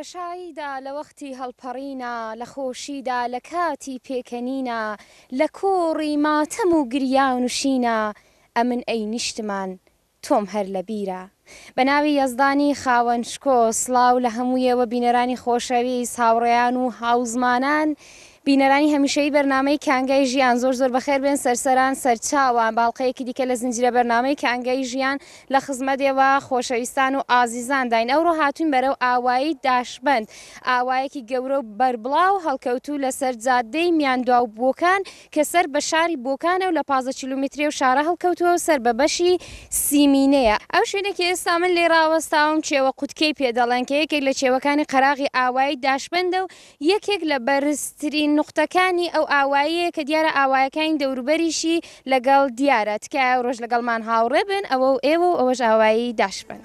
لە شاییدا، لە وەختی هەڵپەڕینا، لە خۆشیدا، لە کاتی پێکەنینا، لە کۆڕی ماتەم و گریان و شینا، ئەمن ئەی نیشتمان، تۆم هەر لە بیرە. بە ناوی یەزدانی خاوەن شکۆ، سڵاو لە هەموو ئێوە بینەرانی خۆشەویست، هاوڕێیان و هاوزمانان، بینەرانی هەمیشەیی بەرنامەی کانگای ژیان، زۆر زۆر بەخێر بێن سەرسەران سەرچاوان، باڵقەیەکی دیکە لە زنجیرە بەرنامەی کانگای ژیان لە خزمەت ئێوە خۆشەویستان و ئازیزانداین، ئەوڕۆ هاتووین بەرەو ئاوایی داشبەند، ئاوایەکی گەورە و بەربڵاو هەڵکەوتوو لەسەر جادەی میاندواو بۆکان، کە سەر بە شاری بۆکانە و لە پازدە کیلۆمیتری ئەو شارە هەڵکەوتووە و سەر بە بەشی سیمینەیە. ئەو شوێنەی کە ئێستا من لێی ڕاوەستاوم کێوە قوتکێی پێ دەڵێن، کە یەکێک لە کێوەکانی قەراغی ئاوایی داشبەندە و یەکێک لە بەرزترین نوقتەکانی ئەو ئاواییەیە کە دیارە ئاوایەکانی دەوروبەریشی لەگەڵ دیارە. تکایە ئەوڕۆش لەگەڵمان هاوڕێ بن، ئەوە و ئێوە و ئەوەش ئاوایی داشبەند.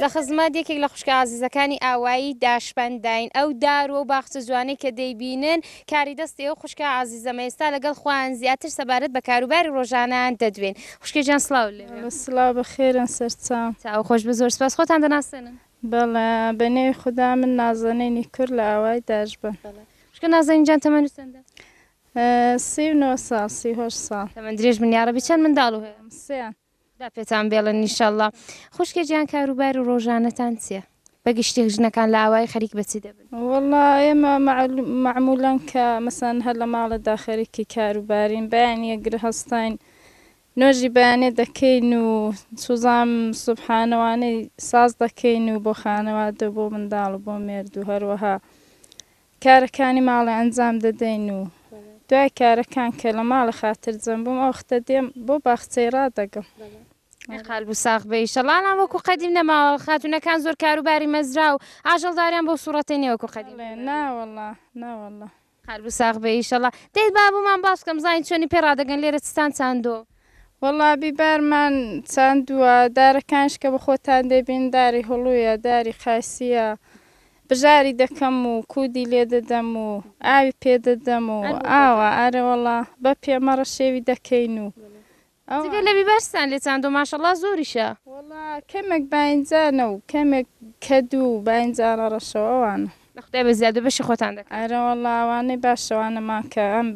لە خزمەت یەکێک لە خوشکە ئازیزەکانی ئاوایی داشبەنداین، ئەو دار و باخچە جوانەی کە دەیبینن کاری دەستی ئەو خوشکە ئازیزەمە ئێستا لەگەڵ خۆیان زیاتر سەبارەت بە کاروباری ڕۆژانەیان دەدوێن خوشکە گیان سڵاو لێ بێ. سڵاو بەخێرن سەرچاو. چاو خۆش بێت زۆر سپاس خۆتان دەناسێنن. بەڵێ بە نێوی خودا من نازەنینی کور لە ئاوای دەژبەم. بەڵێ خوشکە نازەنین جان تەمەنت چەندە؟ سی و نۆ ساڵ سی و هەشت ساڵ. تەمەن درێژ بن یاڕەبی چەند منداڵو هەیە؟ سێیان. خوا پێتان بێڵن نیشەڵا. خوشکە جیان کاروبارو ڕۆژانەتان چیە؟ بەگشتی ژنەکان لە ئاوایی خەریک بە چی دەبن؟ وەڵا ئێمە مەعمولەن کە مەسەن هەر لە ماڵێدا خەریکی کارو بارین بەیانیە گرە هەستاین نۆژی بەیانێ دەکەین و سوزام سوبحانەوانەی ساز دەکەین و بۆ خانەوادە بۆ منداڵ و بۆ مێردو هەروەها کارەکانی ماڵێ ئەنجام دەدەین و دوای کارەکان کە لە ماڵێ خاتر جەم بووم ئەو وەختە دێم بۆ باخچەی ڕادەگەم. ئەی قالبو ساغ بە ئیشەڵا ئەڵان وەکو قەدیم نەماوە خاتونەکان زۆر کاروباری مەزرا و ئاژەڵداریان بۆ سوڕەتەی نیە وەکو قەدیم بڵێ نا وەڵا نا وەڵا. قالبو ساغ بە ئیشەڵا. دەی با بۆمان باس بکە بزانین چۆنی پێ ڕادەگەن لێرە چتان چاندۆ. وەڵا بیبارمان چاندووە دارەکانیش کە بەخۆتان دەبین داری هڵویە داری قاسیە بژاری دەکەم و کودی لێدەدەم و ئاوی پێدەدەم و ئاوا ئارەوەڵا بە پێمەڕە شێوی دەکەین و جگە لە بیبارستان لێ چاندووە ماشەڵا زۆریشە. وەڵا کەمێک باینجانە و کەمێک کەدو و باینجانە ڕەشەو ئەوانە. لە خودای بە زیادو بەشی خۆتان دەکەن. ئارەوەڵا ئەوانەی باشە ئەوانەمان کە ئەم.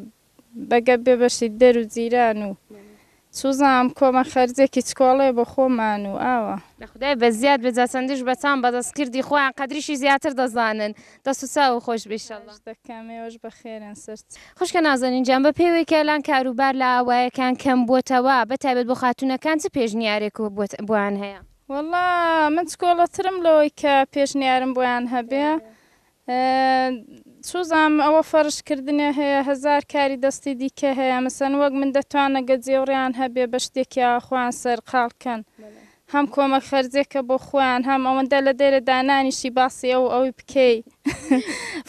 بە گەپ بێ بەشی دەر و جیران و چوزام کۆمە خەرجێکی چکۆڵێ بۆ خۆمان و ئاوا. لە خودای بە زیاد بێ جا چەندیش بە تام بە دەست کردی خۆیان قەدریشی زیاتر دەزانن دەست و چاوو خۆش بێ شەلا. خواش دەکەم ئێوەش بە خێرێن سەر. خوشکە نازەنین جان بە پێی وەی کە ئەلان کارو بار لە ئاوایەکان کەم بوەتەوە بە تایبەت بۆ خاتونەکان چ پێشنیارێک بۆیان هەیە؟ وەڵا من چکۆڵەترم لەوەی کە پێشنیارم بۆیان هەبێ چوزام ئەوە فەرش کردنێ هەیە هەزار کاری دەستی دیکە هەیە مەسەن وەک من دەتوانە گەجێوڕێیان هەبێ بە شتێکیا خۆیان سەرقاڵ کەن هەم کۆمەک خەرجێکە بۆ خۆیان هەم ئەوەندە لە دێرە دانانیشی باسی ئەو ئەوی بکەی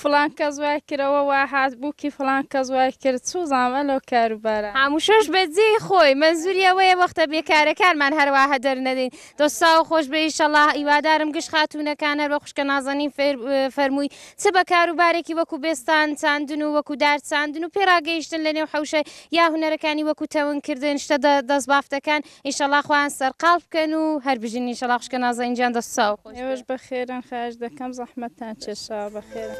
فلان کەس وای کرەوە وا هات بووکی فلان کەس وای کرد چوزام ئەلۆ کاروبارە. هەمووشەش بە جێی خۆی مەنزوری ئەوەیە وەختە بێکارەکانمان هەرواهە دەرنەدەین. دەست ساو خۆش بێ ئیشەڵا هیوادارم گشت خاتوونەکان هەر بە خوشکە نازەنین فەرمووی چ بە کار و بارێکی وەکو بێستان چاندن و وەکو دار چاندن و پێراگەیشتن لە نێو حوشە یا هوەرەکانی وەکو تەونکردن شتە دەست بافتەکان ئیشەڵا خۆیان سەرقال بکەن و هەر بژین ئیشەڵا خوشکە نازەنجان دەست ساو خۆش بە خێرن خاش دەکەم زەحمەتان چێشا بە خێرن.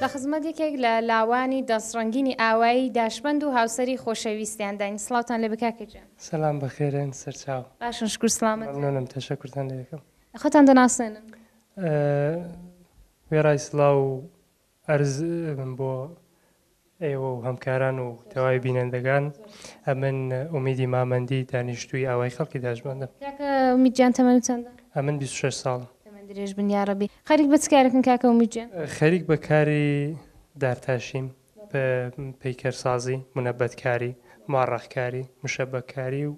لە خزمەت یەکێک لە لاوانی دەست ڕەنگینی ئاوایی داشبەند و هاوسەری خۆشەویستیان داین سڵاوتان لێ بێ کاکە گیان سەلام بەخێرێن سەرچاو باشن شکور سڵامەت مەمنونم تەشەکورتان لێ یەکەم خۆتان دەناسێنن وێڕای سڵاو و عەرز من بۆ ئێوە و هەمکاران و تەواوی بینەندەگان ئەمن ئومیدی مامەندی دانیشتووی ئاوای خەڵکی داشمەندم کاکە ئومید جان تەمەنت چەندە؟ ئەمن بیست و شەش ساڵم. تەمەن درێژ بن یاڕەبی. خەریک بە چ کارەکن کاکە ئومید جان؟ خەریک بە کاری دارتاشیم. پەیکەرسازی، منەبەتکاری، موعەڕەقکاری، مشەبەککاری و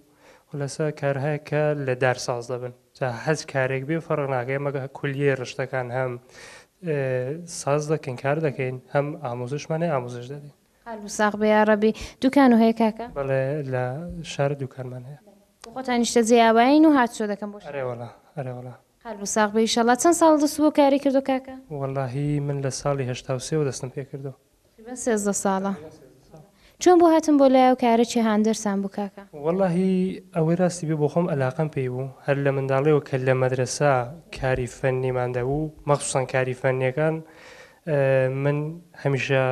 خولەسە کارهایەک کە لە دار ساز دەبن جا هەچ کارێک بێ فەرق ناکە ئێمە کولیەی ڕشتەکان هەم ساز دەکەین کار دەکەین هەم ئامۆزشمان هەیە ئامۆزش دەدەین. قەلب و ساغ بێ یاڕەبی. دوکان و هەیە کاکە؟ بەڵێ لە شار دوکانمان هەیە. خۆتان نیشتەجێی ئاوایین و هاتوچۆ دەکەن بۆ شار؟ ئەرێوەڵا ئەرێوەڵا. قەلب و ساغ بی ئیشەڵا. چەند ساڵ دەست بۆ کاری کردوە کاکە؟ وەلاهی من لە ساڵی هەشتا و سێ وە دەستم پێ کردوە. تقریبەن سێزدە ساڵە. تقریبەن سێزدە ساڵ. چۆن بۆ هاتن بۆ لایەو کارە چی هاندەرتان بوو کاکە؟ وەلاهی ئەوەی راستی بێ بۆخۆم ئەلاقەم پێی بوو هەر لە منداڵیەوە کە لە مەدرەسە کاری فەنیمان دەبوو مەخسوسەن کاری فەنیەکان من هەمیشە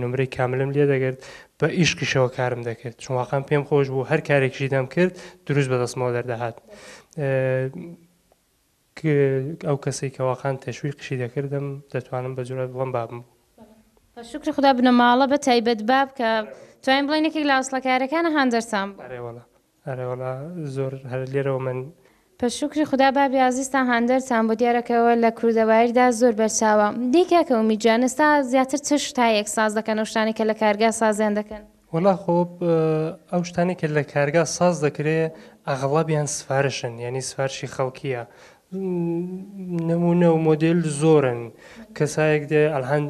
نمرەی کاملم لێ دەگرت بە ئیشقیشەوە کارم دەکرد چون واقعم پێم خۆش بوو هەر کارێکیشی دەم کرد دروست بەدەستمەوە دەردەهات ئەو کەسێک کە واقعان تەشوی قشی دەکردم دەتوانم بە جورات بڵم بابم شکری خدا بنەماڵە بە تایبەت باب کە توانین بڵێن یەکێک لە ئەسڵەکارەکانە هاندەرسان بوو. ئەرێ وەڵا زۆر هەر لێرەوە من. پە شوکری خودا بابی ئازیز تان هاندەر تان بۆ دیارە کە وە لە کوردە بایر دا زۆر بەر چاوە دەی کاکە ئومید جان ئێستا زیاتر چ شت تا یەک ساز دەکەن ئەو شتانەی کە لە کارگا سازیان دەکەن؟ وەڵا خۆ ئەو شتانەی کە لە کارگا ساز دەکرێ ئەغڵابیان سفارشن یانی سفارشی خەڵکیە نمونە و مۆدێل زۆرن کەسایەک دێ ئەلهەند.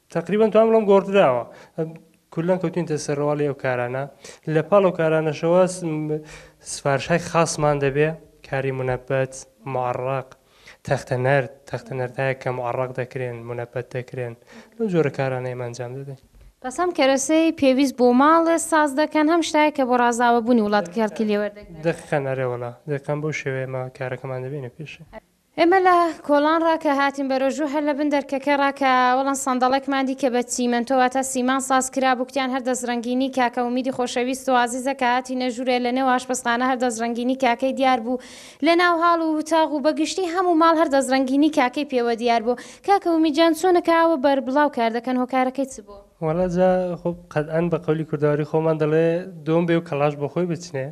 تەقریبەن توان بڵێم گۆڕدراوە کلا کەوتوینتە سەر ڕواڵی ئەو کارانە لە پاڵ ئەو کارانەشەوە سفارشای خاصمان دەبێ کاری منەبەت معڕق تەختە نەرد تەختە نەردایە کە معڕق دەکرێن منەبەت دەکرێن لەو جۆرە کارانە ئێمە ئەنجام دەدەین بەس هەم کەرەسەی پێویست بۆ ماڵێ ساز دەکەن هەم شتایە کە بۆ ڕازاوەبوونی وڵات کەڵکی لێوەردەگرن دەخەن ئەرێ وڵا دەکەم بۆ شێوێمە کارەکەمان دەبینە پێشێ ئێمە لە کۆڵان ڕا کە هاتین بەرەو ژوور هەر لە بن دەرکەکە ڕا کە وەڵن سەندەڵەکمان دی کە بە چیمەنتۆ واتە سیمان ساز کرا بوو کتیان هەر دەسڕەنگینی کاکە ئومیدی خۆشەویست و ئازیزە کە هاتینە ژوورێ لە نێو ئاشپەزخانە هەر دەسڕەنگینی کاکەی دیار بوو لە ناو هاڵ و وتاغ و بە گشتی هە موو ماڵ هەر دەسڕەنگینی کاکەی پێوە دیار بوو کاکە ئومید جان چۆنە کە ئاوە بەربڵاو کار دەکەن هۆکارەکەی چ بوو؟ وەڵا جا خۆ قەتئەن بە قەولی کوردەواری خۆمان دەڵێ دۆم بێ و کەڵاش بۆ خۆی بچنێ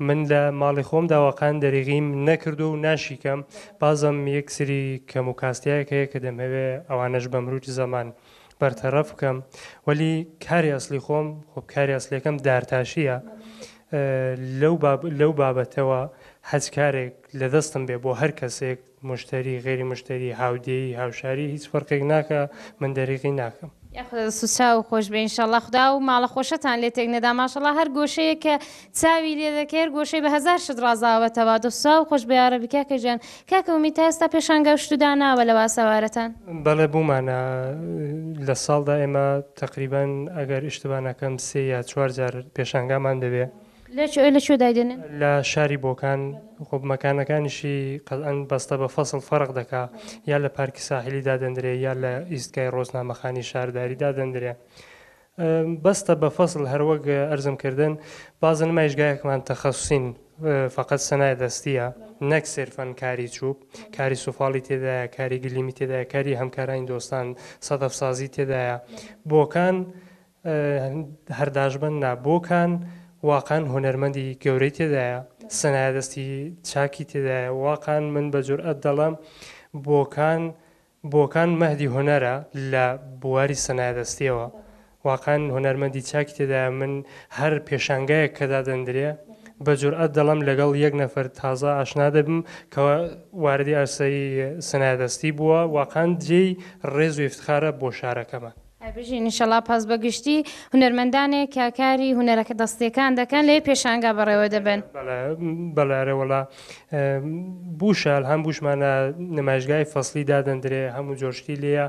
من لە ماڵی خۆم داواقان دەریغیم نەکردووە و ناشیکەم بازم یەک سری کەم و کاستیایەک هەیە کە دەمهەوێ ئەوانەش بە مروج زەمان بەرتەرەف بکەم وەلی کاری ئەسلی خۆم خۆ کاری ئەسلیەکەم دارتاشیە لەو باب لەو بابەتەوە هەچ کارێک لە دەستم بێ بۆ هەر کەسێک موشتەری غەیری موشتەری هاودێی هاوشاری هیچ فەرقێک ناکا من دەریغی ناکەم. یاخوا دەست و چاو خۆش بێ ان شاءاللە خودا ئەو ماڵە خۆشەتان لێ تێک نەدا ماشاءاللە هەر گۆشەیەک کە چاوی لێ دەکەی هەر گۆشەی بە هەزار شت ڕازاوەتەوە دەست و چاو خۆش بێ یاڕەبی کاکە گیان کاکە ئومید تا ئێستا پێشانگا و شت و داناوە لە واسەوارەتان؟ بەڵێ بوومانە لە ساڵدا ئێمە تەقریبەن ئەگەر ئیشتبا نەکەم سێ یا چوار جار پێشانگامان دەبێ. لە کوێ لە کوێ دایدەنێن؟ لە شاری بۆکان خۆ مەکانەکانیشی قەزان بەستە بە فەسڵ فەرق دەکا یا لە پارکی ساحیلی دادەندرێ یا لە ئیستگای ڕۆژنامەخانی شارداری دادەندرێ بەستە بە فەسڵ هەروەک ئەرزم کردن بازە نمایشگایەکمان تەخەسوسین فقط سەنای دەستیە نەک سێرفەن کاری چوب کاری سوفاڵی تێدایە کاری گلیمی تێدایە کاری هەمکارانی دۆستان سەدەف سازی تێدایە بۆکان هەر داشبن نا بۆکان واقان هونەرمەندی گەورەی تێدایە سەنایە دەستی چاکی تێدایە واقان من بە جورئەت دەڵێم بۆکان بۆکان مەهدی هونەرە لە بواری سەنایە دەستیەوە واقان هونەرمەندی چاکی تێدایە من هەر پێشانگایەک کە دادەندرێ بە جورئەت دەڵێم لەگەڵ یەک نەفەر تازە ئاشنا دەبم کە واردی ئەرسەی سەنایە دەستی بووە واقان جێی ڕێز و ئیفتخارە بۆ شارەکەمان. ئەی بژین ان شاءاللە پاس بە گشتی هونەرمەندانێک کە کاری هونەرەکە دەستیەکان دەکەن لەێ پێشانگا بەڕێوە دەبەن. بەڵێ ئەرێ وەڵا بوشە ئەلهام بوشمانە نمایشگای فەسلی دادەندرێ هەموو جۆشتی لێیە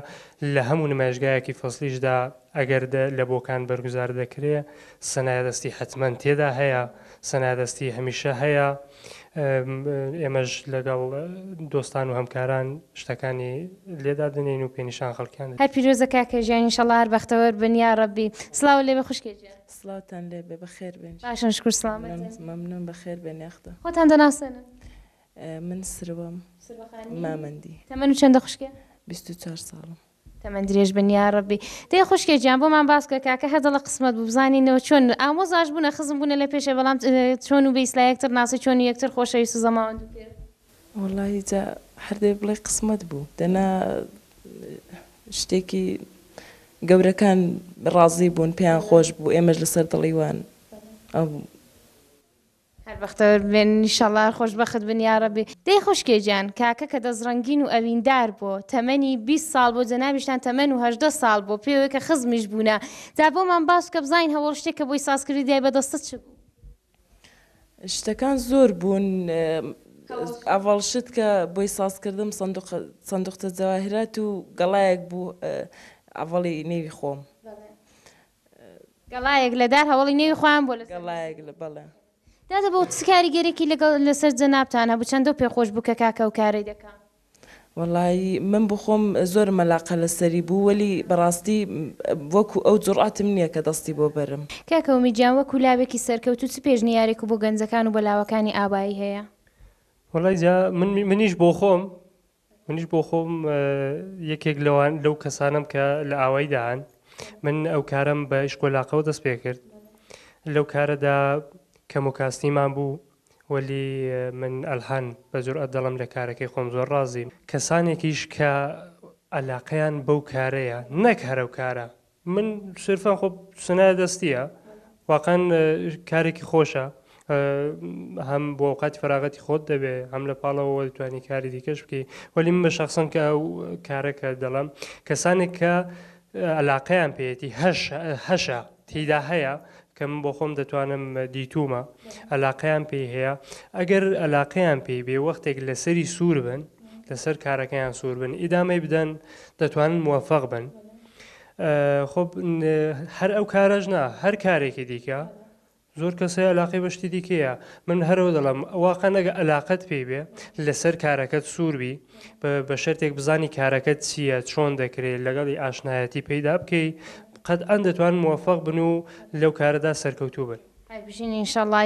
لە هەموو نمایشگایەکی فەسلیشدا ئەگەر لە بۆکان بەرگوزار دەکرێ سەنایە دەستی حەتمەن تێدا هەیە. سنادەستی هەمیشە هەیە ئێمەش لەگەڵ دۆستان و هەمکاران شتەکانی لێدا دەنین و پێنیشان خەڵکیان هەر پیرۆزە کاکە ژیان انشاللە هەر بەختەوەر بن یاڕەبی سڵاوو لێبێ خوشکێ گیان. سڵاوتان لێبێ بەخێربێن باشن شکور سڵامەتن. مەمنون بەخێربێن یاخدا. خۆتان دەناسێنن. من سروەم مامەندی. تەمەنو چەندە خوشکێ. بیست و چوار ساڵم. تەمەن درێژ بن یاڕەبی. دەی خوشکێ گیان بۆمان باس کە کاکە هەردەڵە قسمەت بوو بزانینەوە چۆن ئامۆزاش بوونە خزم بوونە لە پێشێ بەڵام چۆن و بە ئیسلا یەکتر ناسن چۆن و یەکتر خۆشەویست و زەماوەند و پێر. وەڵاهی جا هەر دەی بڵێی قسمەت بوو دەنا شتێکی گەورەکان ڕازی بوون پێیان خۆش بوو ئێمەش لەسەر دڵی وان ئەبوو. هەر بەختەوەر بێن ئیشەڵا هەر خۆش بەخت بن یاڕەبی. دەی خوشکێ گیان کاکە کە دەست ڕەنگین و ئەویندار بۆ تەمەنی بیست ساڵ بۆ جەنابیشتان تەمەن و هەژدە ساڵ بۆ پێوەی کە خزمیش بوونە جا بۆمان باس بکە بزانین هەوەڵ شتێک کە بۆی ساز کردی دای بە دەستت چ بوو؟ شتەکان زۆر بوون ئەوەڵ شت کە بۆی ساز کردم سندوق سندوقچە جەواهرات و گەڵایەک بوو ئەوەڵی نێوی خۆم گەڵایەک لە دار هەوەڵی نێوی خۆیان بۆ لەسەر گەڵایەک لە بەڵێ. دادە بۆ چ کاریگەرێکی لەگەڵ لەسەر جەنابتان هەبوو چەندەو پێ خۆش بوو کە کاکە ئەو کارەی دەکا؟ وەڵایی من بۆ خۆم زۆرم مەلاقە لەسەری بوو وەلی بەڕاستی وەکو ئەو جوڕئەتم نیە کە دەستی بۆ بەرم. کاکە ئومید گیان وەکو لاوێکی سەرکەوتوو چ پێشنیارێک و بۆ گەنجەکان و بۆ لاوەکانی ئاوایی هەیە؟ وەڵای جا من منیش بۆخۆم. منیش بۆ خۆم یەکێک لەوان لەو کەسانم کە لە ئاواییدا هەن من ئەو کارم بە ئیشکۆلاقەوە دەست پێ کرد لەو کارەدا کەم و کاستیمان بوو وەلی من ئەلهەن بە جورئەت دەڵم لە کارەکەی خۆم زۆر ڕازیم کەسانێکیش کە عەلاقەیان بەو کارەیە نەک هەرەو کارە من سرفا خۆ سنایە دەستیە واقعەن کارێکی خۆشە هەم بۆ ئەوقاتی فراغەتی خۆت دەبێ هەم لە پاڵەوە دەتوانانی کاری دیکەش بکەی وەلی من بە شخصم کە ئەو کارەکە دەڵم کەسانێک کە علاقەیان پێێتی هەشە تیدا هەیە کە من بۆ خۆم دەتوانم دیتومە علاقەیان پێی هەیە ئەگەر علاقەیان پێی بێ وەختێک لەسەری سوور بن لەسەر کارەکەیان سوور بن ئیدامەی بدەن دەتوانن موفق بن خۆ هەر ئەو کارەش نا هەر کارێکی دیکە زۆر کەسە علاقی بە شتی دیکەیە من هەرەوە دەڵم واقع نەگە علاقت پێی بێ لەسەر کارەکەت سووربی بە شەرتێک بزانی کارەکەت چییە چۆن دەکرێت لەگەڵی ئاشنایەتی پەیدا بکەی قەت ئەن دەتوان موفق بن و لەو کارەدا سەرکەوتوو بن ئای بژین ئینشەڵا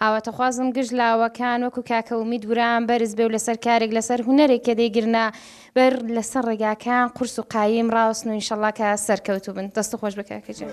ئاواتەخوازم گشت لاوەکان وەکو کاکە ومید وران بەرز بێ و لەسەر کارێک لەسەر هونەرێک کە دەیگرنە بەر لەسەر ڕێگاکان قورس و قایم ڕاوەستن و ئینشەڵا کە سەرکەوتوو بن دەست خۆش بە کاکە جان.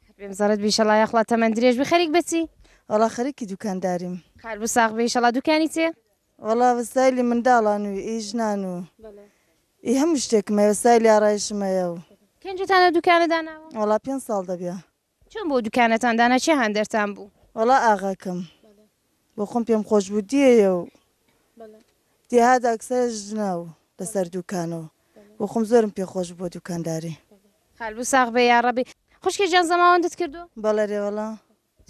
بێم زەڕەت بی شەڵا یاخوا تەمەن درێژ بی خەریک بەچی؟ وەڵا خەریکی دوکانداریم. قەربوو ساغ بی ئیشەڵا دوکانی چیە؟ وەڵا وەسایلی منداڵان و ئی ژنان و ئی هەموو شتێکم هەیە وەسایلی ئارایشم هەیە و. کەن جوتان ئەو دوکانە داناوە؟ وەڵا پێنج ساڵ دەبێ. چۆن بۆ دوکانەتان دانا کێ هاندەرتان بوو؟ وەڵا ئاغاکەم. بۆ خۆم پێم خۆش بوو دێیە و دێهات ئەکسەر ژنە و لەسەر دوکانە و بۆ خۆم زۆرم پێ خۆش بوو دوکانداری. قالبو ساغ بێ یاڕەبی. خوشکێ جان زەماوەندت کردووە؟ بەڵێ رێ وەڵا.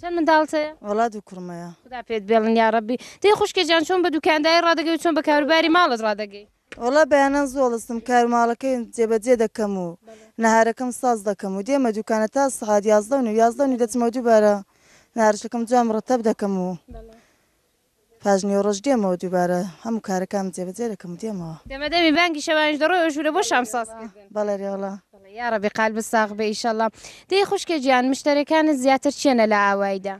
چەند منداڵت هەیە؟ وەڵا دوو کوڕم هەیە. خودا پێت بێڵن یاڕەبی. دەی خوشکێ جان چۆن بە دوکانداری ڕادەگەی و چۆن بە کاروباری ماڵت ڕادەگەی؟ وەڵا بەیانان زۆڵستم کارو ماڵەکەیم جێبەجێ دەکەم و نەهارەکەم ساز دەکەم و دێمە دوکانە تا سەعات یازدە و نیو یازدە و نیو دەچمەوە دووبارە نەهارشەکەم جوان مڕتەب دەکەم و پاش نیوەڕۆش دێمەوە دووبارە هەموو کارەکانم جێبەجێ دەکەم و دێمەوە. دەمە دەمی بانگی شەوانیش دەڕۆی ئەو ژوورە بۆ شام ساز کردن. بەڵێ رێ وەڵا. بەڵێ یاڕەبی قالبت ساغ بێ ئیشەڵا. دەی خوشکێ جیان مشتەرێکانت زیاتر چیەنە لە ئاوایدا؟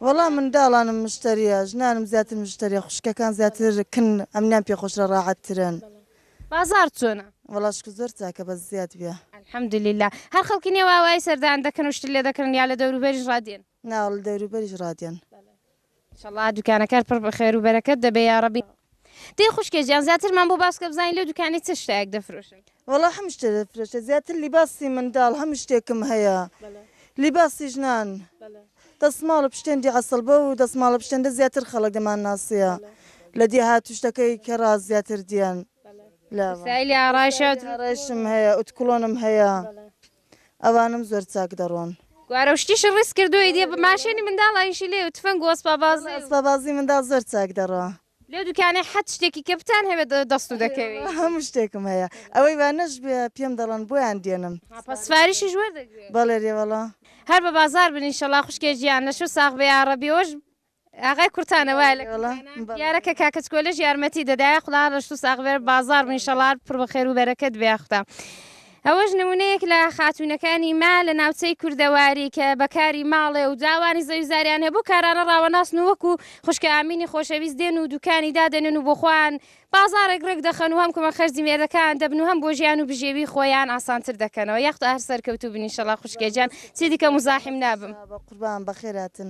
وەڵا منداڵانم مشتەریە ژنانم زیاتر مشتەریە خوشکەکان زیاتر کن ئەمنیان پێ خۆشرە ڕاحەت ترن. بازاڕ چۆنە؟ وەڵا شکر زۆر چاکە بەس زیاد بیە. الحمد للە هەر خەڵکی نێو ئاوایی سەردان دەکەن و شتت لێ دەکڕن یا لە دەوروبەریش ڕادێن؟ نا لە دەوروبەریش ڕادێن. ان شاء اللە دوکانەکەت پڕ بە خێر و بەرەکەت دەبێ یاڕەبی. دەی خوشکێ جیان زیاترمان بۆ باسکە بزانین لەو دوکانەی چ شتایەک دەفرۆشن. وەڵا هەموو شتێ دەفرۆشێ زیاتر لیباسی منداڵ هەموو شتێکم هەیە لیباسی ژنان دەسماڵ و پشتێندی عەسڵ بەو دەسماڵە پشتێندە زیاتر خەڵک دەمان ناسیە لە دێهات و شتەکەی کەڕا زیاتر دیەن لە وسایلی ئارایشم هەیە ئوتکڵۆنم هەیە. ئەوانم زۆر چاک دەڕۆن. گوارەو شتیشی ڕیز کردووە ئیدی ماشێنی منداڵ ئەویشی لێ و تفەنگ و ئەسپابازی و. ئەسپابازی منداڵ زۆر چاک دەڕۆ. لەو دوکانەی حەت شتێکی کە بتان هەبێت دەستو دەکەوی. هەموو شتێکم هەیە ئەوەی وا نەشبێ پێم دەڵەن بۆیان دێنم. ها پەس سفاریشیش وەردەگرێ. بەڵێ رێوەڵە. هەر بە بازار بن ئیشەڵا خوشکێ جیان لەشو ساغ بە یاڕەبی ئەوەش ئاغای کورتانە وایە لە کورتانە دیارە کە کاکە چکۆلەش یارمەتی دەدا یاخوا ڕەشت و ساغ بێت بازاڕ بوو ئینشەڵا پڕ بە خێر و بەرەکەت بێ یاخوا ئەوەش نموونەیەک لە خاتوونەکانی ما لە ناوچەی کوردەواری کە بەکاری ماڵێ و جاوانی زەویزاریان هەیە بۆ کارانە ڕاوەناسن و وەکو خوشکە ئامینی خۆشەویست دێن و دوکانی دادەنێن و بۆ خۆیان بازاڕێک ڕێک دەخەن و هەم کمە خەرجی مێردەکان دەبن و هەم بۆ ژیان و بژێوی خۆیان ئاسانتر دەکەنەوە یاخت هەر سەرکەوتوو بنی شەڵا خوشکێجان چی دیکە مزاحیم نابم قوربان بەخێراتن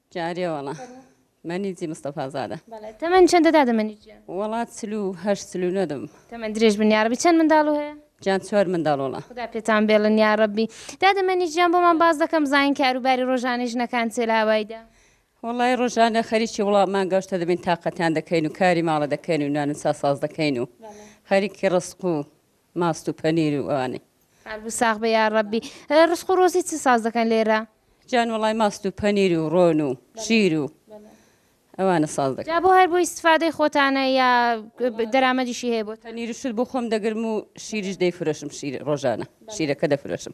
جارێ وەڵا مەنیجی مستەفا زادە. بەڵێ تەمەن چەندە دادە مەنیج گیان. وەڵا چل و هەشت چل و نۆ دەبم. تەمەن درێژ بن یاڕەبی چەند منداڵو هەیە؟ گیان چوار منداڵ وەڵا. خودا پێتان بێڵن یاڕەبی. دادە مەنیج گیان بۆمان باس دەکەم زانین کارو باری ڕۆژانەی ژنەکان چیە لە هاوایدا؟ وەڵای ڕۆژانە خەریکی وڵا مانگا شتە دەبین تاقەتیان دەکەین و کاری ماڵە دەکەین و نان و چا ساز دەکەین و خەریکی ڕزق و ماست و پەنیر و ئەوانەی. قەلبت ساغ بێ یاڕەبی. ڕسق و ڕۆزی چ ساز دەکەن لێرە؟ جان وەڵای ماست و پەنیر و ڕۆن و شیر و ئەوانە ساز دەکەن. جا بۆ هەر بۆ ئیستفادەی خۆتانە یا دەرامەدیشی هەیە بۆتان؟ پەنیر و شل بۆ خۆم دەگرم و شیریش دەیفرۆشم شیر ڕۆژانە شیرەکە دەفرۆشم.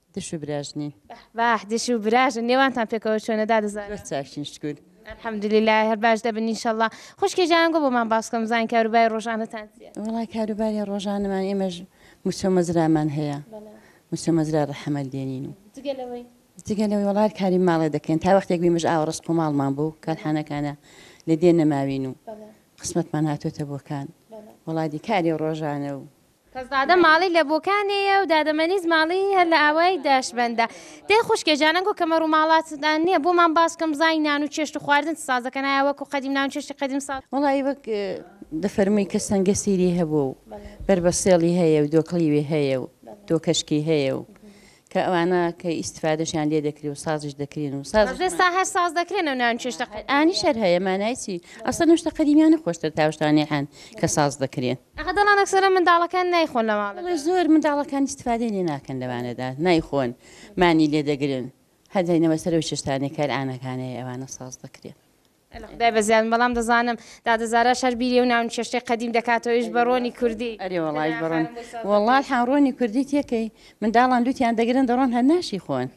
دش و براژ نین. بەح بەح دش و براژن نێوانتان پێکەوە چۆنە دادە زارا. زۆر چاکین شکور. الحمدللە هەر باش دەبن ان شاء اللە. خوشکێ جاران گو بۆمان باس بکە مزان کاروبای ڕۆژانەتان چیە. وەڵا کاروباری ڕۆژانەمان ئێمەش موچەو مەزرامان هەیە موچەو مەزرای ڕەحەمەت دێنین و جگە لەوەی. جگە لەوەی وەڵا هەر کاری ماڵێ دەکەین تا وەختێک بیمەش ئاوە ڕەشقو ماڵمان بو کارحانەکانە لە دێ نەماوین و قسمەتمان هاتۆتە بۆ کان وەڵا دی کاری ڕۆژانە و کەسزادە ماڵی لە بۆکانێیە و دادەمەنیز ماڵی هەر لە ئاوای داشبەندە. دەی خوشکێ جانە گۆ کەمەر و ماڵاتتان نیە بۆمان باس بکەم زای نان و چێشت و خواردن چ ساز دەکەن ئایا وەکو قەدیم نان و چێشتی قەدیم ساز. وەڵا ی وەک دەفەرمووی کە سەنگە سیری هەبووە و بەربەسێڵی هەیە و دۆکڵیوی هەیە و دۆکەشکی هەیە و کە ئەوانە کە ئیستفادەشیان لێ دەکری و سازش دەکرین و ساز ئێستا هەر ساز دەکرێن و ناوی چێشتە ئانی شەر هەیە مانای چی ئەسە نوشتە قەدیمیانە خۆشتر تاشتانی هەن کە ساز دەکرێن ئەخە دەڵان ئەکسەرە منداڵەکان نایخۆن لە ماڵ بەڵێ زۆر منداڵەکان ئیستفادەی لێ ناکەن لەوانەدا نایخۆن مانی لێ دەگرن هەر دەینەوە سەرەوە چێشتانێکار ئانەکانەیە ئەوانە ساز دەکرێن خودای بەزیادم بەڵام دەزانم دادە زاراش هەر بیری و ناون چێشتەی قەدیم دەکاتەوە ئیش بە ڕۆنی کوردی ئەرێ وەڵای بڕۆن وەڵات حان ڕۆنی کوردی تێکەی منداڵان لوتیان دەگرن دەڕۆن هەر ناشی خۆن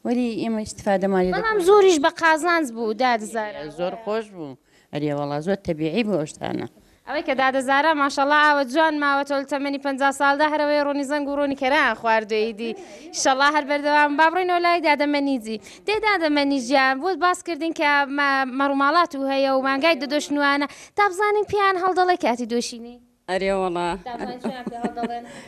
وەری ئێمە استفادەمان لێ بەڵام زۆریش بە قازانج بوو دادزار زۆر خۆش بوو ئەرێ وەڵا زۆر تەبیعی بوو ئەوشتانە ئەوەی کە دادە زارا ماشااللە ئاوە جوان ماوەتەوە لە تەمەنی پەنجا سالدا هەر ئەوەیە ڕۆنی زەنگ و ڕۆنی کەرەیان خواردووە ئیدی ئیشەڵا هەر بەردەوام با بڕۆینەوە لای دادە مەنیجی دەی دادە مەنی گیان بۆت باس کردین کە مەڕوماڵات و هەیە و مانگای دەدۆش نوانە دابزانین پێیان هەڵدەڵێ کاتی دۆشینەی. ئەرێوەڵا. دابزانین چیان پێ هەڵدەڵێن.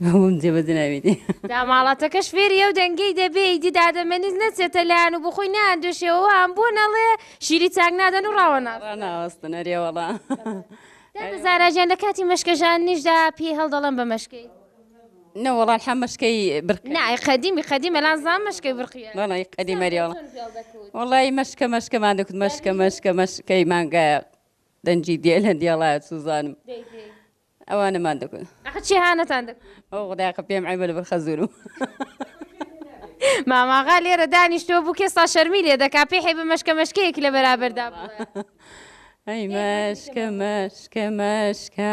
بووم جێ بەجێ ناویتی. داماڵاتەکەش فێری ئەو دەنگەی دەبێ ئیدی دادە مەنیز نەچێتە لایان و بۆخۆی نایاندۆشێ و ئەوان بۆ نەڵێ شیری چاک نادەن و ڕاوەناستن. ڕاناوەستن ئەرێ وەڵا. دادە زارا گیان لە کاتی مەشکە ژاننیشدا پێی هەڵدەڵێن بە مەشکەی. نە وەڵا الحە مەشکەی برقی. نا ئەی قەدیمی قەدیم ئەلان زان مەشکەی برقیە. وەڵا ی قەدیم ئەرێ وەڵا. قسان پێ چۆن فێڵ دەکوت. وەڵای مەشکە مەشکەمان دەکوت مەشکە مەشکە مەشکەی مانگایە دەنگی دێ لە دێڵایە چوزانم. دەی دەی. ئەوانەمان دەکوت. ئەخە چی هانتان دەکرد. ئۆ خودای ئەخە پێم عەیبە لەبەر خەزورم. ماماغا لێرە دانیشتووە بووک ئێستا شەرمی لێ دەکا پێی حەیبە مەشکە مەشکەیەکی لە بەرابەردا بڵێ. ئەی مەشکە مەشکە مەشکە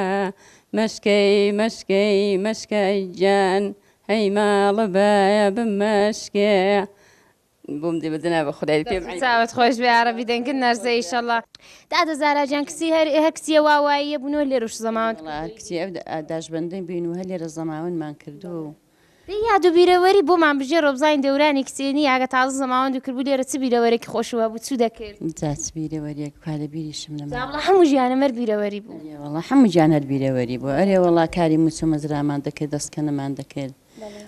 مەشکەی مەشکەی مەشکە ئەی گیان هەی ماڵە بایە بمەشکێ بۆم دێ بە دەنا بە خودای پێم عەیبە. چاوت خۆش بێ یاڕەبی دەنگت نەرزێ ئیشەڵا. دادە زارا جان کسی هەر هەر کسیە وا واییە بونۆ لێرو شزەماوەند کردووی. وەڵا کچی ئەو داشبەندەی بوین و هەر لێرە زەماوەندمان کردووە و. دەی یاد و بیرەوەری بۆمان بژێرۆ بزانین دەورانی کچێنی ئەگە تازە زەماوەندو کردبوو لێرە چ بیرەوەرێکی خۆشو هەبوو چو دەکرد. جا چ بیرەوەریەک کوا لە بیریشم نەماوە. جا بڵێ حەموو ژیانم هەر بیرەوەری بوو. ئەرێ وەڵا حەموو گیان هەر بیرەوەری بوو ئەرێ وەڵا کاری موچە مەزرامان دەکرد دەسکەنەمان دەکرد.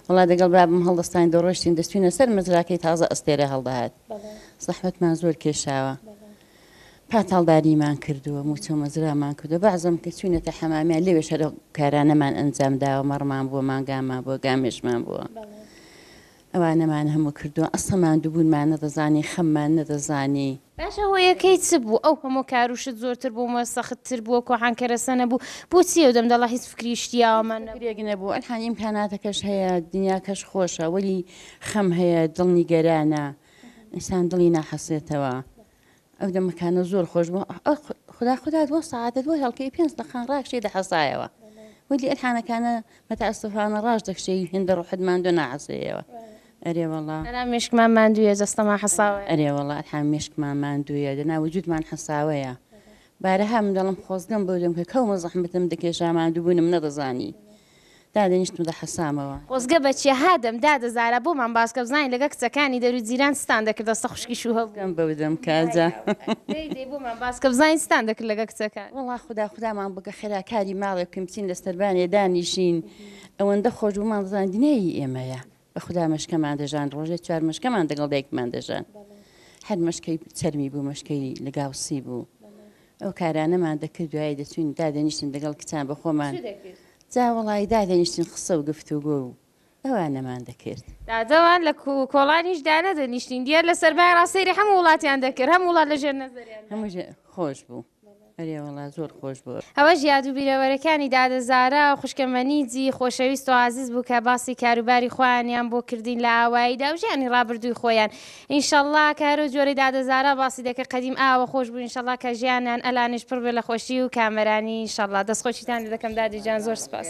وەڵا دەگەڵ بابم هەڵدەستاین دەڕۆشتین دەستوینە سەر مەزراکەی تازە ئەستێرە هەڵدەهات زەحمەتمان زۆر کێشاوە پاتاڵداریمان کردووە موچە مەزرامان کردو بەعزم کە چوینەتە حەمامیان لەوێ شەرە کارانەمان ئەنجام داوە مەڕمان بووە مانگامان بووە گامێشمان بووە ئەوانەمان هەموو کردووە ئەسەمان دووبوونمان نەدەزانی خەممان نەدەزانی باشە هۆیەکەی چ بوو ئەو هەموو کار و شت زۆرتر بووم و سەخت تر بووە کۆحان کەرەسە نەبوو بۆچی ئەو دەم دەڵە هیچ فکری شتیاوەمان نەبوو. فکرێک نەبوو ئەلحان ئیمکاناتەکەش هەیە دنیاکەش خۆشە وەلی خەم هەیە دڵ نیگەرانە ئینسان دڵی ناحەسێتەوە ئەو دەمەکانە زۆر خۆش بوو خودا خودا دووە سەعاتە دووە هێڵکەی پێنج دەقان ڕاکشێ دەحەسایەوە وەلی ئەلحانەکانە مەتاسفانە ڕاش دەکشێ هێندە ڕوحت ماندوو ناحەسەیەوە ئەرێ وەڵا. ئەرا مێشکمان ماندوویە جەستەمان حەساوەیە. ئەرێ وەڵا ئەرا مێشکمان ماندوویە دەنا وجودمان حەساوەیە بارەها من دەڵم خۆزگەم بەودەم کە کەومە زەحمەتم دەکێشا ماندووبونم نەدەزانی دادەنیشتم دەحەسامەوە. خۆزگە بە چیا هادەم دادە زارا بۆمان باسکە بزانین لەگەڵ کچەکانی دەرو جیران چتان دەکرد دەستە خوشکی شوو هەبوو. خۆزگەم بەودەم کە جا. دەی دەی بۆمان باسکە بزانین چتان دەکرد لەگەڵ کچەکان. وەڵا خودا خودامان بکە خێرا کاری ماڵێ بکەین بچین لە سەربانێ دانیشین ئەوەندە خۆش بوو مانزانی دنیای هی ئێمەیە. بە خودا مەشکەمان دەژان ڕۆژێ چوار مەشکەمان دەگەڵ دایکمان دەژان هەر مەشکەی چەرمی بوو مەشکەی لەگاوسی بوو ئەو کارانەمان دەکرد دوای دەچوین دادەنیشتن دەگەڵ کچان بە خۆمان جاوەڵی دادەنیشتن خسە و گفتو گۆ و ئەوان نەمان دەکرد دادەوان لە کۆڵانیش دانەدەنیشتین دیار لە سەربای ڕاستەیری هەموو وڵاتیان دەکرد هەم وڵات لە ژێر نەزەریان هەموو خۆش بوو ئەرێ وەڵا زۆر خۆش بوو. ئەوەش یاد و بیرەوەرەکانی دادە زارا و خوشکە مەنیجی خۆشەویست و ئازیز بوو کە باسی کاروباری خۆیانیان بۆ کردین لە ئاواییدا و ژیانی ڕابردووی خۆیان ئینشەڵا کە هەرەو جۆرەی دادە زارا باسی دەکرد قەدیم ئاوە خۆش بوو ئینشەڵا کە ژیانیان ئەلانیش پڕ بێ لە خۆشی و کامەرانی ئینشەڵا دەست خۆشیتان لێ دەکەم دادە گیان زۆر سوپاس.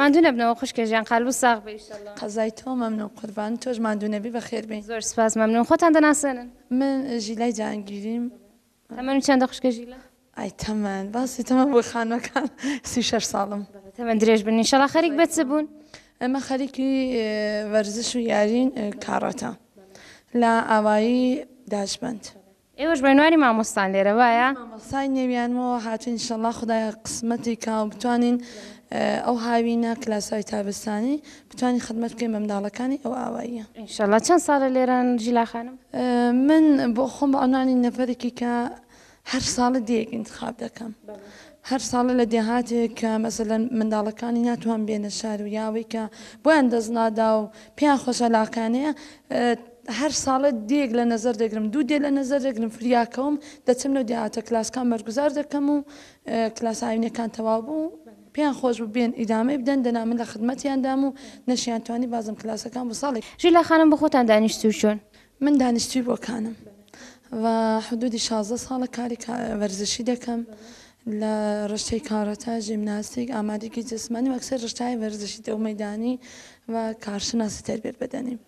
ماندوو نەبنەوە خوشکە ژیان قالبو ساغ بی ئیشەڵا. قەزای تۆ مەمنون قوربان تۆش ماندوو نەبی بەخێر بێی. زۆر سوپاس مەمنون خۆتان دەناسێنن. من ژیلای جەهانگیریم. تەمەنت چەندە خوشکە ژیلا؟ ئای تەمەن باسی تەمەن بۆ خانمەکان سی و شەش ساڵم. تەمەن درێژ بن ئیشەڵا خەریک بە چ بوون؟ ئێمە خەریکی وەرزش و یارین کاڕاتە لە ئاوایی داشبەند. ئێوەش بەنواری مامۆستان لێرە وایە؟ من مامۆستای نێویانمەوە هاتوین ئیشەڵا خودایە قسمەتی کا و بتوانین ئەو هاوینە کلاسای تابستانی بتوانین خدمەت بکەین بە منداڵەکانی ئەو ئاواییە. ئینشەڵا چەند ساڵە لێرەن ژیلا خانم؟ من بۆ خۆم بە عونوانی نەفەرێکی کە هەر ساڵە دێیەک ئینتخاب دەکەم هەر ساڵە لە دێهاتێک کە مەسەلەن منداڵەکانی ناتوان بێنە شار و یا ئەوەی کە بۆیان دەست نادا و پێیان خۆشە لاقانەیە هەر ساڵێ دێیەک لە نەزەر دەگرم، دوو دێ لە نەزەر دەگرم، فریاکەوم، دەچم لەو دێهاتە کلاسەکان بەرگوزار دەکەم و کلاسە ئاینیەکان تەواو بوو، پێیان خۆش بوو بێن ئیدامەی بدەن، دەنا من لە خدمەتیان دام و نەشیان توانی بازم کلاسەکان بۆ ساڵێک. ژیلا خانم بۆ خۆتان دانیشتوو چوون؟ من دانیشتووی بۆکانم و حدوودی شازدە ساڵە کاری وەرزشی دەکەم لە رشتەی کاراتە، ژیمناستیک، ئامادەگی جسمانی و ئەکسەر رشتەهای وەرزشی دەو مەیدانی و کارشناسی تەربیەت بەدەنیم.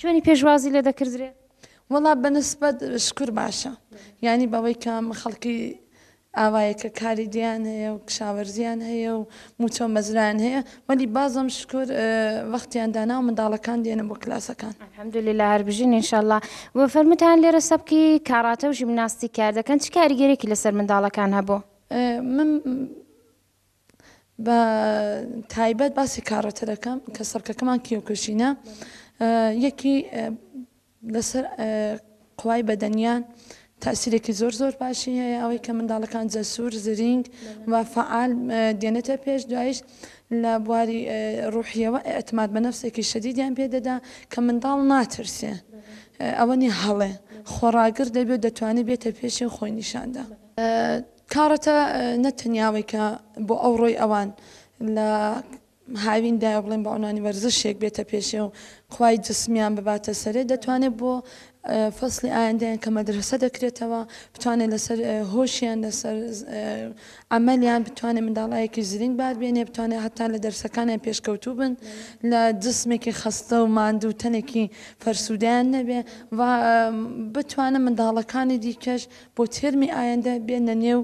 چۆنی پێشوازی لێ دەکردرێ؟ وەڵا بەنسبەت شکور باشە یانی بەوەی کە خەڵکی ئاوایەکە کاری دیان هەیە و کشاوەرزیان هەیە و موچۆ مەزران هەیە وەلی بازم شکر وەختیان دانا و منداڵەکان دێنە بۆ کلاسەکان هەمدلی لە هەربژین انشاءله و فەرموتان لێرە سەبکی کاڕاتە و ژیمناستی کاردەکەن چ کاریگەرێکی لەسەر منداڵەکان هەبوو من بە تایبەت باسی کاڕەتەرەکەم کە سەرکەکەمان کیۆکوشینە یەکی لەسەر قوای بەدەنیان تاسیرێکی زۆر زۆر باشی هەیە ئەوەی کە منداڵەکان جەسوور زرینگ و فعال دێنێتە پێش دوایش لە بواری ڕوحیەوە ئەتماد بە نفسێکی شەدیدیان پێدەدا کە منداڵ ناترسێ ئەوەنی هەڵێ خۆڕاگر دەبێت دەتوانێت بێتە پێشی خۆی نیشاندا کارەتە نە تەنیا ئەوەی کە بۆ ئەوڕۆی ئەوان لە هاویندایە بڵێن بە عنوانی وەرزشێک بێتە پێشێ و قوای جسمیان بباتە سەرێ دەتوانێت بۆ فەسلی ئایندەیان کە مەدرسە دەکرێتەوە بتوانێت لەسەر هۆشیان لەسەر ئەمەلیان بتوانێت منداڵایەکی زرنگ بار بێنێ بتوانێت هەتا لە دەرسەکانیان پێشکەوتوو بن لە جسمێکی خەستە و ماندوو تەنێکی فەرسوودیان نەبێ و بتوانە منداڵەکانی دیکەش بۆ تێرمی ئایندە بێنە نێو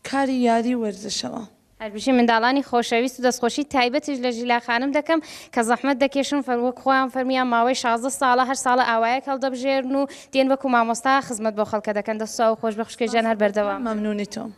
کاری یاری وەرزشەوە. هەربژی منداڵانی خۆشەویست و دەستخۆشی تایبەتیش لە ژیلا خانم دەکەم کە زەحمەت دەکێشن و وەک خۆیان فەرموویان ماوەی شازدە ساڵە هەر ساڵە ئاوایەک هەڵدەبژێرن و دێن وەکو مامۆستا خزمەت بۆ خەڵکە دەکەن دەست ساغ و خۆشبێ خوشکە گیان هەر بەردەوام بن.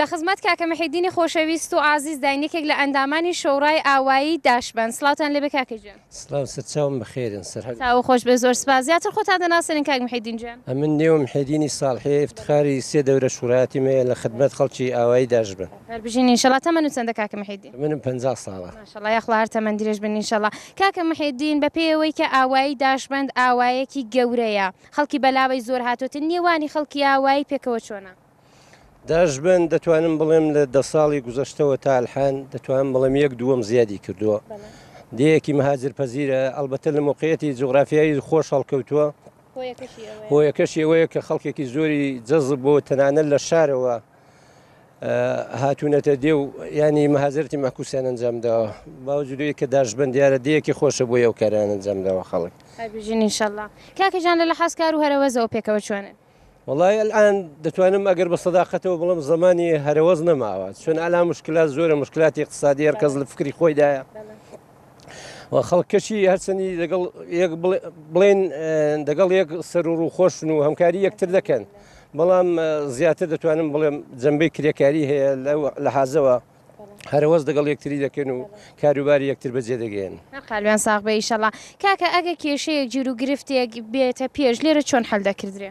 لە خزمەت کاکە محیدینی خۆشەویست و ئازیز داین یەکێک لە ئەندامانی شۆڕای ئاوایی داشبن سلاوتان لێبێ کاکە گیان سلاو سەرچاوم بەخێرن سەر تاو خۆش بێ زۆر سپاس زیاتر خۆتان دەناسێنین کاک محیدین گیان ئەمن نێو محیدینی ساڵحێ افتخاری سێ دەورە شوڕایەتی مەیە لە خدمەت خەڵکی ئاوایی داشبن هەربژین انشاءاللە تەمەن و چەندە کاکە محیدین منم پەنجا ساڵە شەڵا یاخوا هەر تەمەن درێژ بن ان شەڵا. کاکە محێدین بە پێی ئەوەی کە ئاوایی داشبەند ئاوایەکی گەورەیە خەڵکی بەلاوەی زۆر هاتۆتە نێوانی خەڵکی ئاوایی پێکەوە چۆنە؟ داشبەند دەتوانم بڵێم لە دە ساڵی گوزەشتەوە تا ئەلحان دەتوانم بڵێم یەک دووەم زیادی کردووە دێیەکی مەهاجر پەزیرە ئەڵبەتە لە مۆقعیەتی جوغرافیایی خۆش هەڵکەوتووە هۆیەکەشی ئەوەیە کە خەڵکێکی زۆری جەزب بۆ تەنانەت لە شارەوە هاتوونەتە دێ و ینی مەهازرتی مەکوسیان ئەنجام داوە باوجدوی کە داشبن دیارە دیەکی خۆشە بۆ ئەو کاران ئەنجام داوە خەڵک بژین انشاءله کاکەژان لە لە حەزکار و هەرەوەزەوە پێکەوە چۆنن وڵی ئەلان دەتوانم ئەگەر بە سەداقەتەوە بڵم زمانی هەرەوەز نەماوە چون ئەلا مشکلات زۆرە مشکلاتی اقتصادی هەرکەس لە فکری خۆیدایە خەڵک کەچی هەرچەندی دەگەڵ بڵێن دەگەڵ یەک سەر و ڕووخۆشن و هەمکاری یەکتر دەکەن بەڵام زیاتر دەتوانم بڵێم جەمبەی کرێکاری هەیە لە حازەوە هەرەوەز دەگەڵ یەکتری دەکەن و کاروباری یەکتر بەجێ دەگەن قالوێن ساغ بە ئیشەڵا کاکە ئەگە کێشەیەک جیرو گرفتێک بێتە پێش لێرە چۆن حل دەکردرێ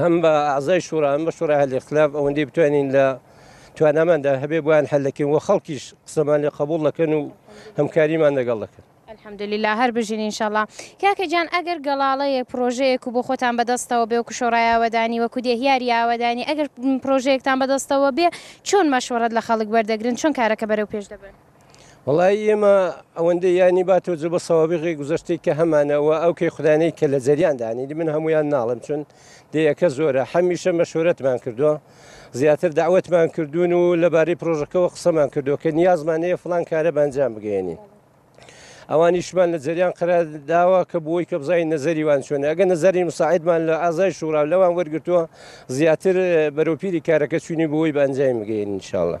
هەم بە ئازای شوڕا هەم بە شوڕای هەلی خلاف ئەوەندەی بتوانین لە تواناماندا هەبێ بۆیان هەلەکەین وە خەڵکیش قسەمان لێ قبول دەکەن و هەمکاریمان لەگەڵ دەکەن. الحمدللە هەر بژین ان شاء اللە. کاکە جان ئەگەر گەڵاڵەیەک پڕۆژەیەک و بۆ خۆتان بەدەستەوە بێ وەکو شۆڕای ئاوەدانی وەکو دێهیاری ئاوەدانی ئەگەر پڕۆژەیەکتان بەدەستەوە بێ چۆن مەشوەڕەت لە خەڵک وەردەگرن چۆن کارەکە بەرەو پێش دەبەن؟ وەڵایی ئێمە ئەوەندە یانی با تۆ جبە سەوابقی گوزەشتی کە هەمانەوە ئەو کەی خودانەی کە لە جەریان دانی من هەمویان ناڵم چون دەیەکە زۆرە هەمیشە مەشورەتمان کردووە زیاتر داوتمان کردوون و لەبارەی پرۆژەکەەوە قسەمان کردو کە نیازمانەیە فلان کارە بەنجام بگەێنین ئەوانیشمان لە جەریان قرار داوە کە بۆی کە بزای نەزەری وان چۆن ئەگە نەزەری مساعدمان لە ئازای شوڕا لەوان وەرگتووە زیاتر بەرەوپیری کارەکە چوینی بۆی بەنجایم بگەین انشاءله.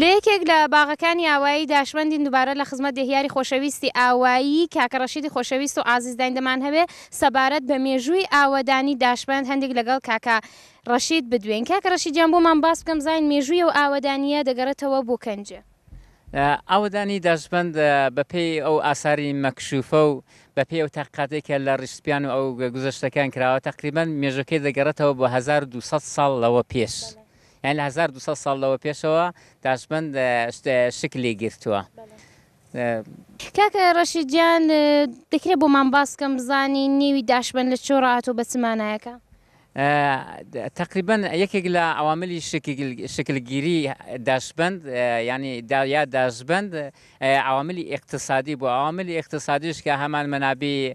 لە یەکێک لە باغەکانی ئاوایی داشمەندین دوبارە لە خزمەت دێهیاری خۆشەویستی ئاوایی کاکە ڕەشیدی خۆشەویست و ئازیزداین دەمانهەوێ سەبارەت بە مێژووی ئاوەدانی داشمەند هەندیک لەگەڵ کاکە ڕەشید بدوێین کاکە ڕەشید گیان بۆمان باس بکەم بزانین مێژووی ئەو ئاوەدانییە دەگەڕێتەوە بۆ کەنجێ. ئاوەدانی داشمەند بە پێی ئەو ئاساری مەکشوفە و بە پێی ئەو تاقیقاتەی کە لە ڕیش سپیان و ئەو گوزەشتەکان کراوە تەقریبەن مێژووەکەی دەگەڕێتەوە بۆ هەزار و دوو سەد ساڵ لەوە پێش یانی لە هەزار و دوو سەد ساڵ لەوە پێشەوە تاشبەند شکلی گرتووە. کاکە ڕەشید گیان دەکرێت بۆمان باس کەم بزانی نێوی داشبەند لە چۆ ڕاتۆ بە چ مانایەکە؟ تەقریبەن یەکێک لە عەواملی شکلگیری داشبەند یانی یا داشبەند عەواملی ئیقتسادی بووە، عەواملی ئیقتسادیش کە هەمان مەنابەی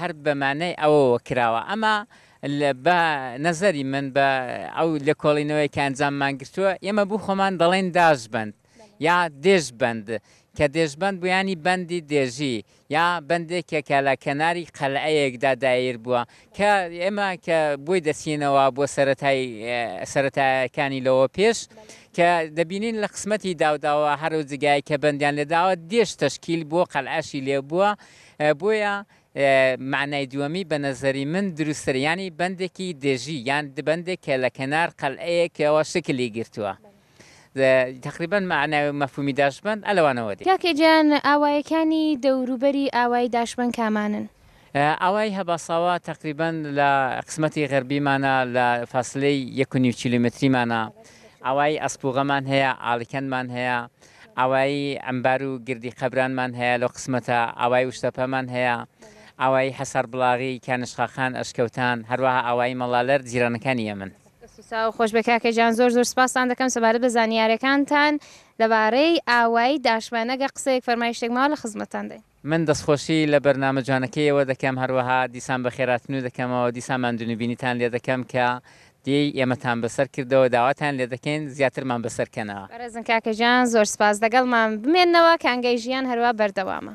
هەر بە مانای ئەوەوە کراوە. ئەما بە نەزەری من بە ئەو لێکۆڵینەوەیە کە ئەنجاممان گرتووە، ئێمە بو خۆمان دەڵێین داشبەند یا دێژبەند، کە دێژبەند بو یانی بەندی دێژی یا بەندێکێ کە لە کەناری قەلعەیەکدا داییر بووە، کە ئێمە کە بۆی دەچینەوە بۆ سەرەتای سەرەتایەکانی لەوە پێش کە دەبینین لە قسمەتی داوداوە هەرو جگایەک کە بەندیان لێداوە دێژ تەشکیل بووە قەلعەشی لێبووە، بۆیە مەعنای دووەمی بە نەزەری من دروستترە، یانی بەندێکی دژی یان بەندێک کە لە کەنار قەلعەیەکەوە شکلی گرتووە. تقریبا مەعنا و مەفهومی داشبەند ئە لەوانەوە دێ. کاکە گیان ئاوایەکانی دەوروبەری ئاوای داشبەند کامانن؟ ئاوای هەباساوا تقریبا لە قسمەتی غەربیمانە لە فاسلەی یەک و نیو کیلۆمەتریمانە. ئاوای ئەسپووغەمان هەیە، ئالیکەندمان هەیە. ئاوایی عەمبار و گردی قەبرانمان هەیە لەو قسمەتە، ئاوایی ئوشتەپەمان هەیە، ئاوایی حەسار بڵاغی، کانشقاخان، ئەشکەوتان، هەروەها ئاوایی مەڵالەر جیرانەکانی ئێمەن. دەست و چاو خۆش بێت کاکە گیان، زۆر زۆر سپاستان دەکەم سەبارەت بە زانیارەکانتان لەبارەی ئاوایی داشمانە، گەر قسەیەک فەرمایشتێک ماوە لە خزمەتتان داین. من دەستخۆشی لە بەرنامە جوانەکەیەوە دەکەم هەروەها دیسان بەخێراتنو دەکەمەوە دیسان ماندونوبینیتان لێدەکەم کە دێی ئێمەتان بەسەر کردەوە داواتان لێدەکەین زیاترمان بەسەر کەنەوە. بەڕێزن کاکە گیان زۆر سپاس دەگەڵمان بمێنەوە کانگای ژیان هەروا بەردەوامە.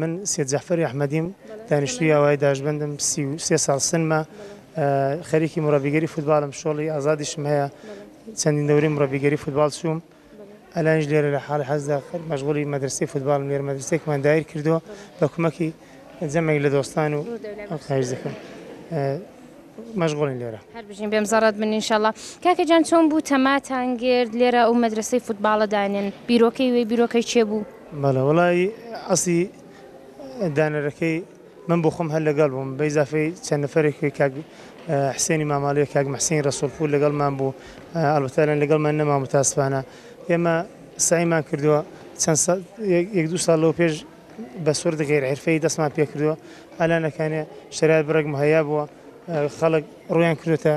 من سید جەعفەری ئەحمەدیم، دانیشتووی ئاوایی داشبەندم، سی و سێ ساڵ سنمە، خەریکی مڕەبیگەری فوتباڵم، شۆڕی ئازادیشم هەیە، چەندین دەورەی مڕەبیگەری فوتباڵ چووم، ئەلانیش لێرە لە حاڵی حەزدا مەشغوڵی مەدرەسەی فوتباڵم، لێرە مەدرەسەیەکمان دایر کردووە بە کومەکی جەمێک لە دۆستان و خواهیش دەکەم مەشغوڵین لێرە. هەر بژین بێم زەڕەت بن ان شاء الله. کاکە جان چۆن بوو تەماتان گرت لێرە ئەو مەدرەسەی فوتباڵە دانێن؟ بیرۆکەی وێ بیرۆکەی چێ بوو؟ بەڵێ وەڵایی ئەسڵی دانەرەکەی من بۆ خۆم هەر لەگەڵ بووم بە ئیزافەی چەند نەفەرێک وەی کاک حسێنی ماماڵەیە کاک محسین ڕەسوڵپور لەگەڵمان بوو ئەڵبەتەلەن لەگەڵمان نەما متاسفانە ئێمە سعیمان کردووە چەند یەک دو ساڵ لەو پێش بە سوور دەگەیر عرفەی دەستمان پێکردووە ئالانەکانێ شەرار بڕێک مهیا بووە خەڵک ڕویان کرێتە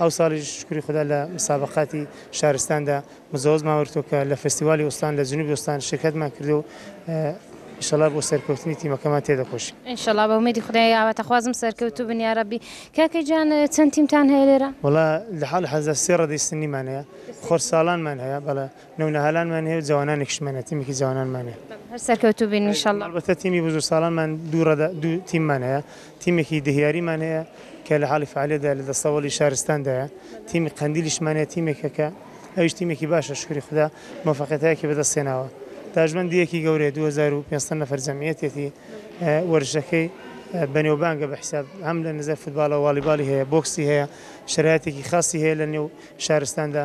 ئەوساڵیش شوکری خودا لە مسابەقاتی شارستاندا مجەوەزمان وەرگرتووە کە لە فستیوالی ئوستان لە جنوبی ئوستان شرکەتمان کردووە و ئیشەڵا بۆ سەرکەوتنی تیمەکەمان تێدەکۆشین. ان شاءاللە بە ئومێدی خودای ئاواتەخوازم سەرکەوتوو بن یارەبی. کاکە گیان چەند تیمتان هەیە لێرە؟ وەڵا لە حاڵی حازردا سێ ڕەدەی سنیمان هەیە، خۆرساڵانمان هەیە بەڵێ. نەونەهالانمان هەیە و جەوانانێکشمان هەیە، تیمێکی جەوانانمان هەیە. هەر سەرکەوتوو بین ان شاءاللە. هەڵبەتە تیمی بزرگساڵانمان دوو ڕەدە، دوو تیممان هەیە، تیمێکی دهیاریمان هەیە کە لە حاڵی فەعالیەتدایە لە دەستەوەڵی شارستاندایە، تیمی قەندیلیشمان هەیە تیمێکە کە ئەویش تیمێکی باشە شوکری خودا موفەقیەتایەکی بەدەست هێناوە داژبەندیەکی گەورەیە دوو هەزار و پێنج سەد نەفەر جەمعیەتێتی وەرزشەکەی بەنێوبانگە بە حیساب هەم لە نزای فوتباڵەوە واڵیباڵی هەیە بۆکسی هەیە شەرایەتێکی خاسی هەیە لە نێو شارستاندا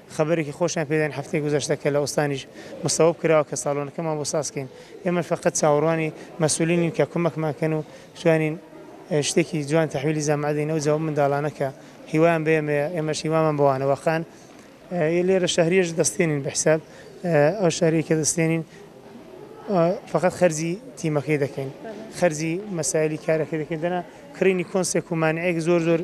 خەبەرێکی خۆشیان پێ داین هەفتەی گوزەشتە کە لە ئوستانیش مستەوەب کراوە کە ساڵۆنەکەمان بۆ ساز کەین ئێمەش فەقەت چاوەڕوانی مەسولینین کە کومەکمان کەن و بتوانین شتێکی جوان تەحویلی جامعە دەین ئەو جا ئەو منداڵانە کە هیوایان بە ئێمەیە ئێمەش هیوامان بەوانە واقعەن ی لێرە شەهریەش دەستێنین بە حیساب ئەو شەهری کە دەستێنین فەقەت خەرجی تیمەکەی دەکەین خەرجی مەسایلی کارەکە دەکەین دەنا کڕینی کۆنسێک و مانعێک زۆر زۆر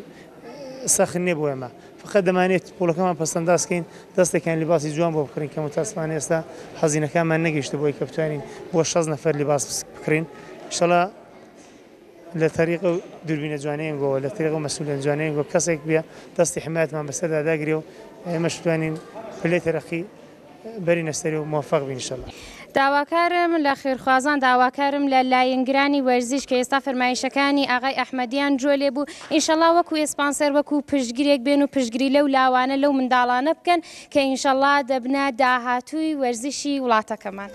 سەخت نێ بۆ ئێمە فەقەت دەمانەوێت پۆلەکەمان پەسەنداز بکەین، دەستێکیان لیباسی جوان بۆ بکڕین کە متاسفانە ئێستا هەزینەکانمان نەگەیشتە بۆی کە بتوانین بۆ شەست نەفەر لیباس بکڕین ئیشەڵا لە تەریق و دوربینە جوانەیەنگەوە لە تەریق و مەسولێن جوانەیەنگەوە کەسێک بێ دەستی حمایەتمان بەسەردا داگرێ و ئێمەش بتوانین پلەی تەرەقی بەرینە سەری و موفق بی انشاللە. داواکارم لە خێرخوازان داواکارم لە لاینگرانی وەرزیش کە ئێستا فەرمایشەکانی ئاغای ئەحمەدیان جوێ لێ بوو ئینشەڵا وەکو ئێسپانسەر وەکو پشتگرێک بێن و پشتگری لەو لاوانە لەو منداڵانە بکەن کە ئینشەڵا دەبنە داهاتووی وەرزشی وڵاتەکەمان.